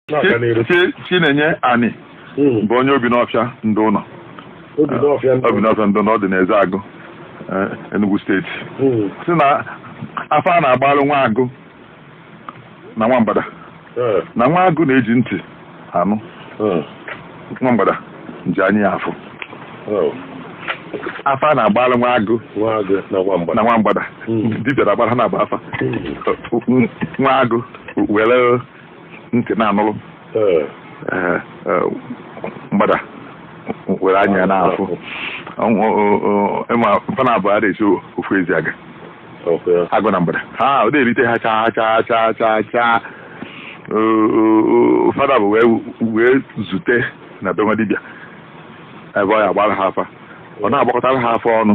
na-aga n'iru Chi- Chi- chinenye ani Mm. bụ onye obinọfịa ndịụnọ obinọfịa ndị obinọfịa ndịụnọ ọ dị n'ezeagụ eh, enugu steeti Mm. sị na afa a na-agbalụ nwa agụ na nwa mgbada Eh, na nwa agụ na-eji ntị anụ eh, nwa mgbada ji anya ya afụ oh. afa a na-agbalụ nwa agụ nwa agụ na nwa mgbada na nwa mgbada Mm. dibịa na-agbara ha na-agba afa Mm. nwa agụ were ntị na-anụrụ eh. Eh, eh, mgbada were anya na-afụ ị ma fa naabọ ada esi ofu ezi aga agụ na mgbada ha ọ na-erite ha chaa chaa chaa chaa chaa fa naabọ wee zute na be nwa dibịa ebe ọ ya-agbara ha afa ọ na-agbakọtara ha afa ọnụ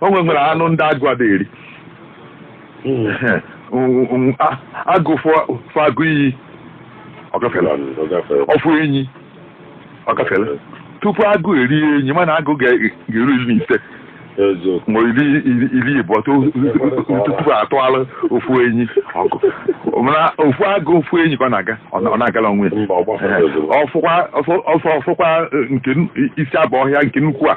o nwe nwere anụ ndị agụ ada eri agụ fụ agụ iyi ọ gafere ọ fụ enyi ọ gafere tupu agụ erie enyi mana agụ ga-eru iri na ise ma iri iri ịbụọ tupu a tụalụ ofu enyi ọgụ mana ofu agụ fụ enyi ka ọ na-aga ọ na-agala onwe ya ọ fụkwa ọ fụkwa nke isi abụ ọhịa nke nnukwu a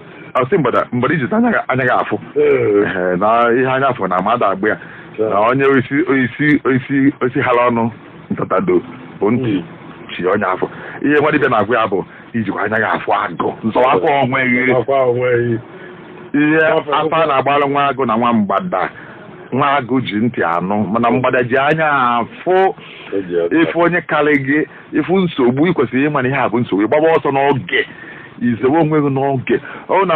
a sị mgbada mgbada i ji anya gị anya gị afụ Ee. Ehe, na ihe anya afụ na mmadụ agba ya na onye isi isi isi isi hala ọnụ ntatado bụ ntị chie onye afụ ihe nwa dibịa na-agwa ya bụ i jikwa anya gị afụ agụ zọwakwa onwe gị Akwa onwe gị. ihe Afa- afa a na-agbalụ nwa agụ na nwa mgbada nwa agụ ji ntị anụ mana mgbada ji anya afụ Eji aka. ị fụ onye karị gị ị fụ nsogbu ị kwesịrị ịma na ihe a bụ nsogbu ị gbaba ọsọ n'oge i zewe onwe gị n'oge ọ na